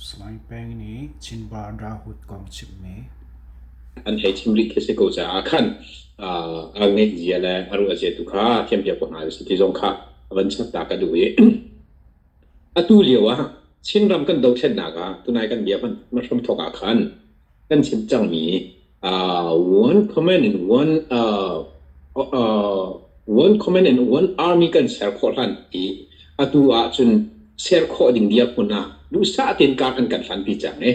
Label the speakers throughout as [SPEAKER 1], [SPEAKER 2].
[SPEAKER 1] Salai Peng nih Chinbar Rahut kong chimmi. An hei chim rih khi si ko caah khan a ngeih zia le a ruah zia tu kha thiampiak ko hna sih ti zong kha a van chatta ka duh i atu lio ah Chinram kan dothlennak ah tunai kan bia hmanh hrum thawk ah khan kan chim cangmi uh, one comment in one uh, uh, one comment in one army kan ser khawh hlan i atu ahcun ser khawh ding dia hmun ah duhsah tein kar an kan hlan pi cang i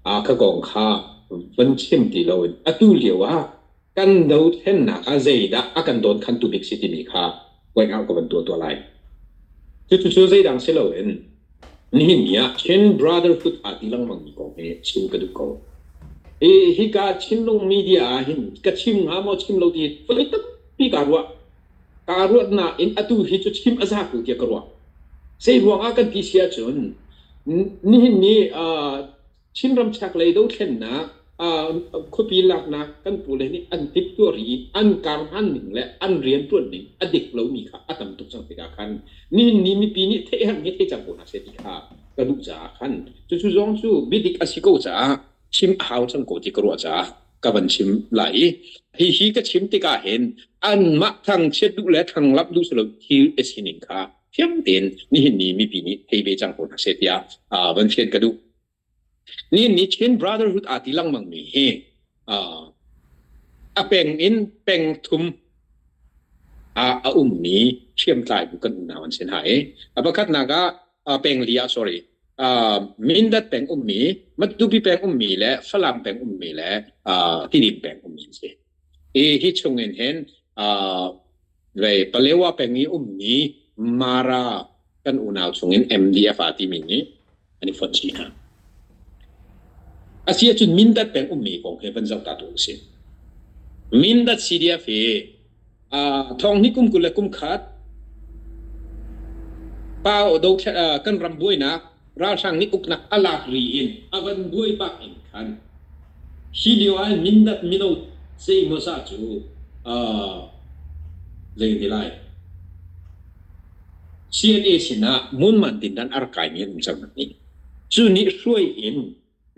[SPEAKER 1] uh, ka kong kha van chim ti loin atu lio ah Kan dothlennak ah zeidah a kan dawnkhantu bik si timi kha point out ka van tuah tuah lai. Cucu zeidang si loin nihin ni ah Chin Brotherhood aa ti lengmangmi kong hi chim ka duh ko. Hi hika Chinlung media ah hin ka chim hnga maw chim lo ti voi tampi kaa ruah. Kaa ruat nain atu hi cu chim a za ko tiah ka ruah. Zei ruangah kan ti si ahcun nihin ni uh, Chinram chaklei dothlennak khuapi laknak kan pule nih an timhtuah rih i an karhman ning le an rianṭuan ning a dik lomi kha a tam tuk cang tikah khan nihin ni mipi nih theihher he thei cang ko hna seh ti kha ka duh caah khan cucu zong cu biadik a si ko caah chim a hau cang ko ti ka ruah caah ka van chim lai i hihi ka chim tikah hin anmah thangchiat duh le thanglap duh si lo thil a sining kha fiang tein nihin ni mipi nih thei ve cang ko hna seh tiah uh, van fian ka duh. Nihin ni Chin Brotherhood aa ti lengmang mi hi uh, a peng in peng thum a, a um mi hriamtlai bu kan unau an sin ha e. A pakhat naga uh, peng li ah sorry uh, Mindat peng um mi Matupi peng um mi le Falam peng um mi le uh, Tidim peng um mi si. I hi chung in hin uh, Rei Palewa peng i ummi Mara kan unau chungin MDF aa timi nih an i fonh chih hna. A si ahcun Mindat peng ummi kong he van zoh ta tu a si. Mindat CDF hi uh, thonghni kum kul le kum khat pa o do kan ram buainak ralhrang nih uknak a lak ri in a van buai bak in khan hi lio ah Mindat mino zeimawzah cu uh, zei ne lai CNA sinah ngun man din dan ar kai mi an um cang nih cu nih hruai in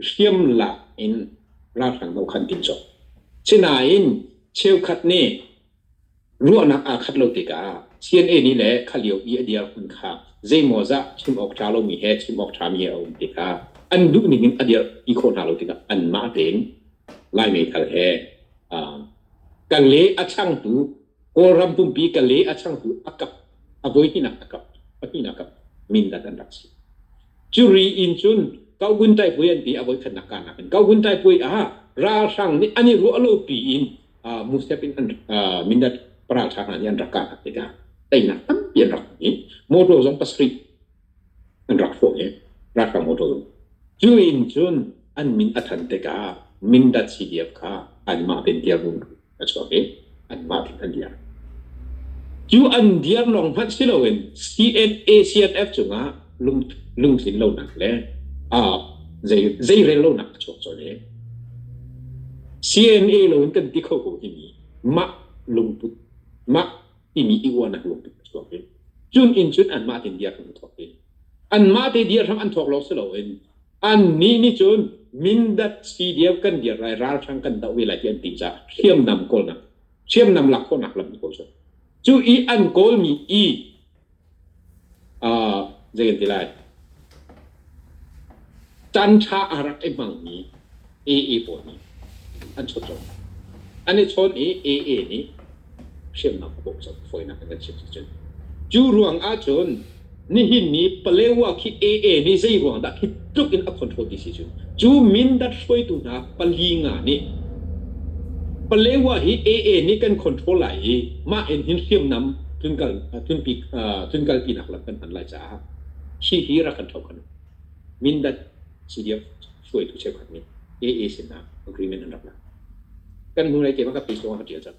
[SPEAKER 1] hriamlak in ralhrang dohkhan tim sawh. Sinain cheukhat nih ruahnak aa khat lo tikah CNA nih le khalio i a dirhmun kha zeimawzah chim awk ṭha lomi he chim awk ṭhami he a um tikah an duh ning in a dirh ti khawh hna lo tikah anmah tein Lai meithal he kan le a changtu Kawlram pumpi Kale a changtu a kap a voi hninak a kap pahnihnak kap Mindat an rak si. Curi in cun Kaogun Taipuai an ti a voi khatnak karnak in Kaogun Taipuai ah ralhrang nih an i ruah lo pi in uh, Musep in an uh, Mindat paraltha hna nih an rak karnak tikah teinak tampi an rak hmu i motor zong pasarih an rak hrawh i ralhrang motor cu in cun an min a than tikah Mindat CDF kha anmah tein dirhmun a chuak i anmah tein an dir. Cu an dir lawng hmanh si loin CNA-CNF cungah lung, lungtlin lonak le uh, zei, zeirel lonak a chuak colh i CNA loin kan ti kho ko timi mah lungput, mah imi iuahnak lung tuk a chuak i cun in cun anmah te dia hram an thawk i anmah te dia hram an thawk lo si loin annih nih cun mindat si dia kan dia rai ral hrang kan doh ve lai ti an ti caah hriamnam kawlnak hriamnam lak khawhnak lam an kawl cu cu i an kawlmi i Zei kan ti lai? Tanṭha a rak i hmangmi AA pawl nih an chawnh cang. An i chawn i AA nih hriamnam a bawmh cang fawinak in an chim sicun. Cu ruangah cun nihin ni Palewa khi AA nih zei ruangah dah tlukin a control ti si cu cu Mindat hruaitu hna pali nga nih Palewa hi AA nih kan control lai i mah in hin hriamnam thun kal thun pi thun kal pi nak lam kan hman lai caah hi hi rak kan tho kan Mindat CDF hruaitu cheukhat nih AA sin ah agreement an rak la kan hnu nei ke ma ka page lawng a tial cang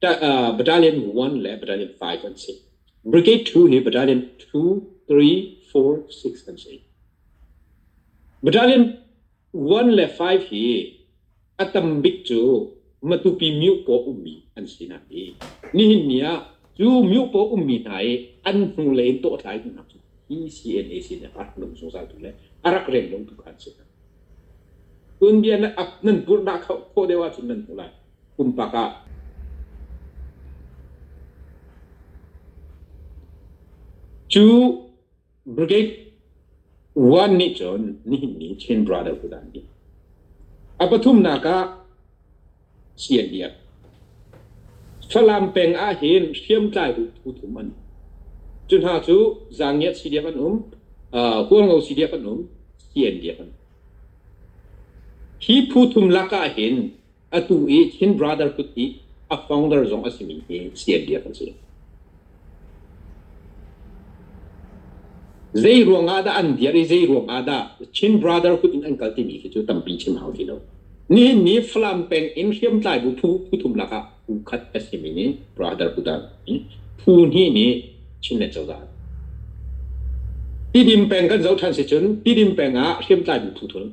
[SPEAKER 1] Battalion one le Battalion five an si. Brigade two hi Battalion two, three, four, six an si. Battalion one le five hi a tam bik cu Matupi Myukpaw ummi an si hna i nihin ni ah cu Myukpaw ummi hna i an hnu lei in tawhtlai duhnak cu PCNA sin le rak lung zungzaltu le a rak rel lotu kha an si hna. Tun bia na nan purh dah khawh deuh ahcun nan hmu lai. Pumpak ah. Cu brigade one nih cun nihinni Chin Brotherhood ah an ti. A pathumnak ah CNDF. Falam peng ah hin hriamtlai phu thum an um. Cu hna cu Zangiat CDF an um, uh, Hualngo CDF an um, CNDF an um. Hi phu thum lakah hin Atu i Chin brother kut i a founder zong a simi hi CM Biak an si. Zei ruang ah dah an dir i zei ruang ah dah Chin brother kut in an kal timi khi cu tampi chim hau ti lo. Nihin ni Falam peng in hriamtlai bu phu phu thum lak ah phu khat a simi nih brother kut ah hi phu hnih nih Chin le cozah Tidim peng kan zoh ṭhan si cun Tidim peng ah hriamtlai bu phu thum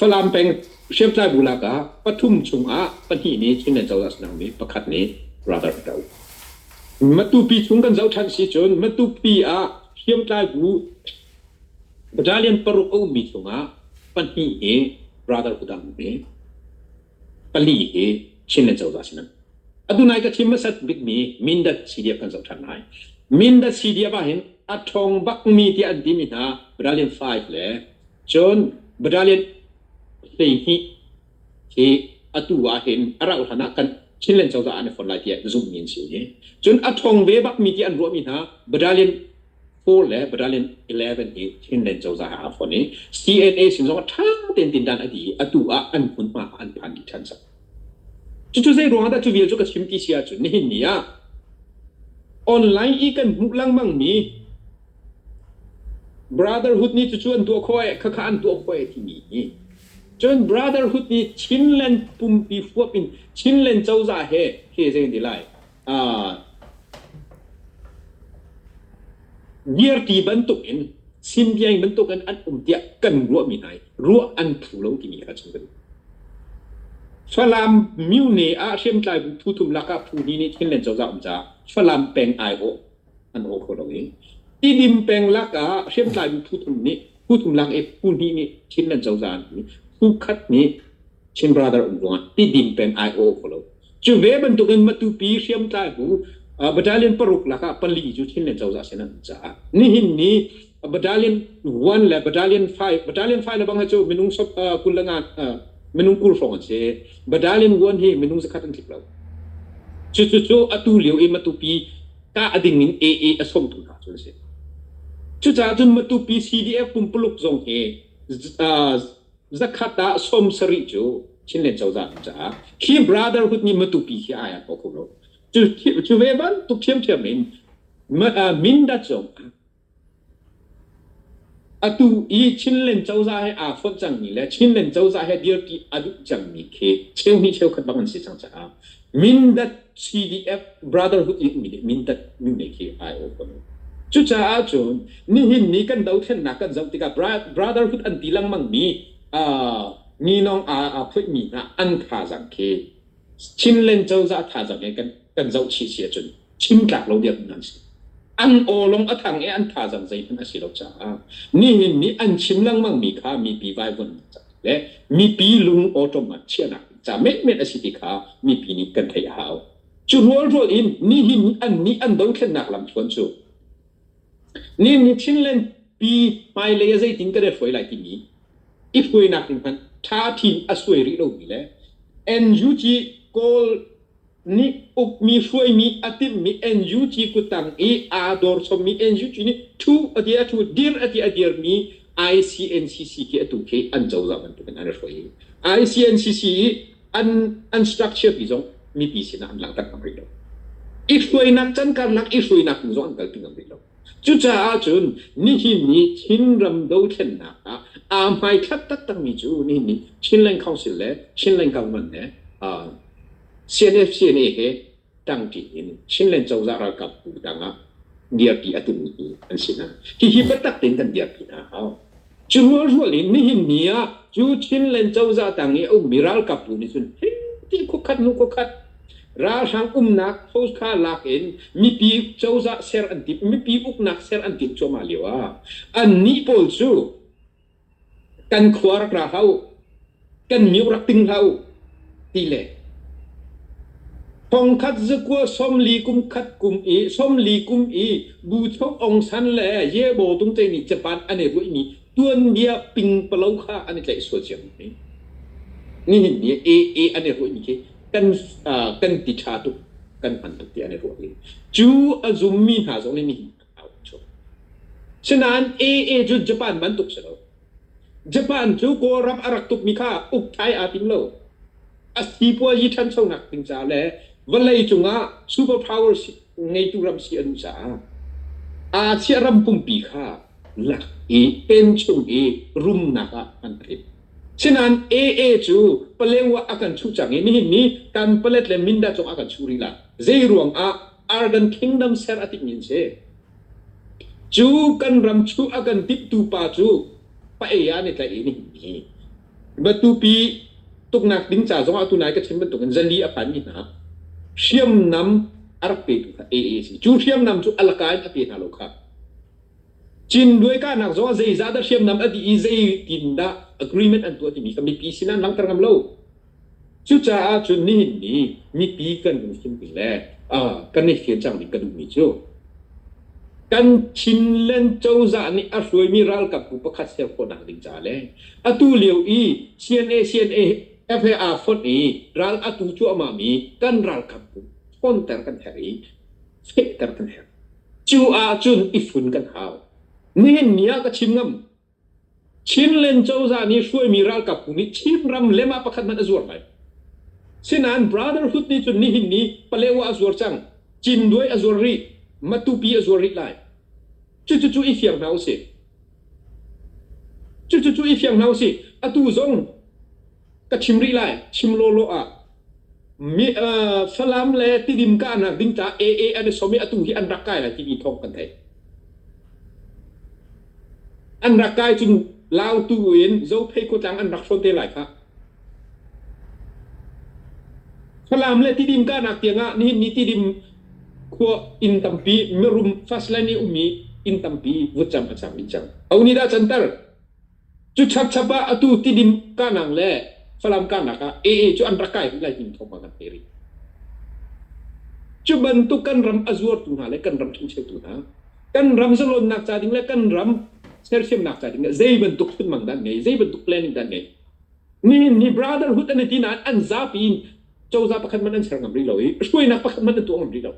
[SPEAKER 1] Falam peng hriamtlai bu lakah pathum chungah pahnih nih Chinland cozah sinangmi pakhat nih radar a doh. Matupi chung kan zoh ṭhan si cun Matupi ah hriamtlai bu battalion paruk a ummi chungah pahnih nih radar a dang mi. pali hi Chin le Cozah sin an atu nai ka chim hmasat bikmi Mindat CDF kan zoh ṭhan lai. Mindat CDF ahhin a ṭhawng bakmi tiah an timi hna Battalion 5 le cun Battalion hleihnih hi atu ahhin a rauhhlan ah kan Chin le Cozah an i fon lai tiah zumhmi an si i cun a ṭhawng ve bakmi tiah an ruahmi hna Battalion 4 le Battalion 11 hi Chinland cozah ah a fonh i CNA sin zong ah ṭha tein tindan a dih i atu ah an hmunhma ah an phan dih ṭhan sak. Cucu zeiruang ah dah cu vial cu ka chim ti si ahcun nihin ni ah online i kan hmuh lengmangmi brotherhood nih cucu an tuah khawh ee khakha an tuah khawh ee timi hi cun brotherhood nih Chinland pumpi fuap in Chinland cozah he he zei di lai Ngiarti bantukin, Sinbiain bantukin an um tiah kan ruahmi hna i ruah an phu lo timi kha chung kan Falam myu ne ah hriamtlai bu thu thum lak ah phu ni nih Chinland cozah um caah Falam peng ai awh an aw kho lo i tidim peng lakah hriamtlaimi phu thum nih phu thum lak i phu hnih nih Chin an cozah an i phu khat nih Chin brother um ruangah tidim peng ai aw kho lo cu ve bantukin matupi hriamtlai bu battalion paruk lakah pali cu Chinland cozah sin an caah nihin ni A battalion one le battalion five battalion five le bang hi cu minung sop uh, kul le ngan uh, minung kul hrawng an si battalion one hi minung zakhat an tlip lo cu cu cu atu lio i matupi ka ading in AA a somtu hna cu an si cucaah cun matupi CDF pumpuluk zong hi uh, zakhat ah som sari cu Chinland cozah caah khi brotherhood ni matupi khi ai ko khum lo cu cu ve ban tu phiam thiam in mindat zong Atu i Chinland cozah hi aa fonh cangmi le Chinland cozah hi dirpi a duh cangmi khi cheu hnih cheukhat bang an si cang caah Mindat CDF brotherhood i ummi nih Mindat mine khi ai awkom. Cucaah cun nihin ni kan dothlennak kan zoh tikah brotherhood an ti lengmangmi aa Ninawng aa aa phoihmi hna an thazaang khi Chinland cozah thazaang hi kan kan zoh chih si ahcun chintlak lo biak hna si an awlong a thang i an thazang zeihmanh a si lo caah nihin ni an chim lengmangmi kha mipi vaivunnak le mipi lung automat chiahnak ca menmen a si ti kha mipi nih kan theih a hau cu rual rual in nihin an nih an dothlennak lam chuan cu nihin ni chinland pi hmailei a zeitin ka hruai lai timi i hruainak ding hman tha thin a suai rih lomi le NUG kawl nih ukmi hruaimi a timhmi NUG kutang i aa dor chommi NUG nih ṭhu a ti a ṭhu dir a ti a dirmi ICNCC khi atu khi an cozah bantukin an i hruai i ICNCC i an an structure pi zong mipi sinah an langhter ngam rih lo i hruainak can karlak i hruainak tu zong an kalpi ngam rih lo cucaah cun nihin ni Chin ram dothlennak ah aa hmaithlak taktakmi cu nihin ni Chinland Council le Chinland Government he uh, CNFC-NA he ṭangṭi in Chinland cozah ralkapbu dang ah dirpi a tummi an si hna. Hihi biatak tein kan dirpi hna a hau. Cu rualrual in nihin ni ah cu Chinland cozah tang i a ummi ralkapbu nih cun hiti khuakhat hnu khuakhat ralhrang umnak post kha lak in mipi cozah ser an timh, mipi uknak ser an timh cuahmah lio ah annih pawl cu kan khua rak ra hlah u, kan miuk rak ting hlah u, ti le thongkhat zakua somli kum khat kum i somli kum i bu chok ong san le yebo tung te nih japan an i ruih mi tuanbia pingpalo kha an i tlaih sual cia mi nihin ni i i an i ruih mi khi kan ah, kan ti ṭha tuk kan hman tuk ti an i ruah rih cu a zum mi hna zong nih nihin Sinain AA cu Japan bantuk si lo. Japan cu Kawlram a rak tukmi kha ukthai aa tim lo. A sipuazi ṭhanchonak ding caah le vawlei cungah superpower si, ngeitu ram si a duh caah Asia ram pumpi kha lak i penchung i rumnak ah an rit. Sinain AA cu Palewa a kan chuh cang i nihin ni kan Palet le Mindat zong a kan chuh rih la. Zeiruangah Argan Kingdom ser a timhmi an si. Cu kan ram chu a kan timhtu pa cu pa-ei ah ne tlaih i ni himmi. Batupi tuknak ding ca zongah tu nai ka chim bantukin zali a phanmi hna hriamnam a rak petu kha AA a si. Cu hriamnam cu alaka in a pe hna lo kha. Cin duai kahnak zongah zeizah dah hriamnam a dih i zeitindah agreement an tuah timi kha mipi sin an langhter ngam lo. Cucaah cun nihin ni mipi kan kan hrinmi le kan i hrial cangmi kan duhmi cu kan Chinland cozah nih a hruaimi ralkap bu pakhat ser khawhnak ding caah le atu lio i CNA CNF fonh i ral a tu cuahmahmi kan ralkap bu ṭhawnter kan herh i fehter kan herh. Cu ahcun i fun kan hau. Nihin ni ah ka chim ngam. Chinland cozah nih hruaimi ralkap phu nih Chinram lemah pakhat hmanh a zuar lai. Sinain Brotherhood nih cun nihin ni Palewa a zuar cang, Cindwe a zuar rih, Matupi a zuar rih lai. Cucucu i fiang hna usih. Cucucu i fiang hna usih. Atu zong ka chim rih lai chim lawlaw ah mi, uh, Falam le Tidim kahnak ding caah AA an i som i atu hi an rak kai lai timi thawng kan theih. An rak kai cun Lau tu in Zophei khuatlang an rak hrawn te lai kha. Falam le Tidim kahnak tiangah nihin ni Tidim khua inn tampi mirum fast lane i ummi inn tampi vut cam an sam in cang. Auni da chantar Cu chapchap ah atu tidim kahnak le Falam kahnak ah AA cu an rak kai lai hnim thawngpang an theih rih. Cu bantuk kan ram a zuartu hna le kan ram ṭhencheutu hna, kan ram zalonnak ca ding le kan ram sersiamnak ca ding le zei bantuk chunmang dah an ngei, zei bantuk planning dah an ngei. Nihin ni brotherhood an i ti nain an zapi in cozah pakhat hmanh an ser ngam rih lo i hruainak pakhat hmanh an tuah ngam rih lo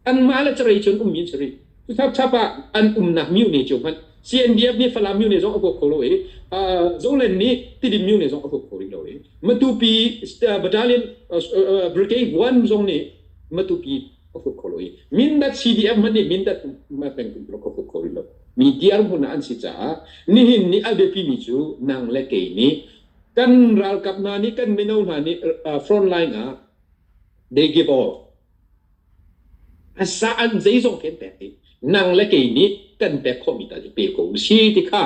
[SPEAKER 1] anmah le carei cu an ummi an si rih cu chap chap ah an umnak mune cu hmanh CNDF nih Falam mune zong a huap kho lo i Zoland nih Tidim mune zong a huap kho rih lo i Matupi battalion brigade one zong nih Matupi a huap kho lo i Mindat CDF hmanh nih Mindat peng peng a huap kho rih lo mi diar hmun ah an si caah nihin ni albepi mi cu nang le kei nih kan ralkap hna nih kan mino hna nih front line ah they give all a sa an zeizong kan pek i nang le kei nih kan pek khawhmi tal i pe ko u si ti kha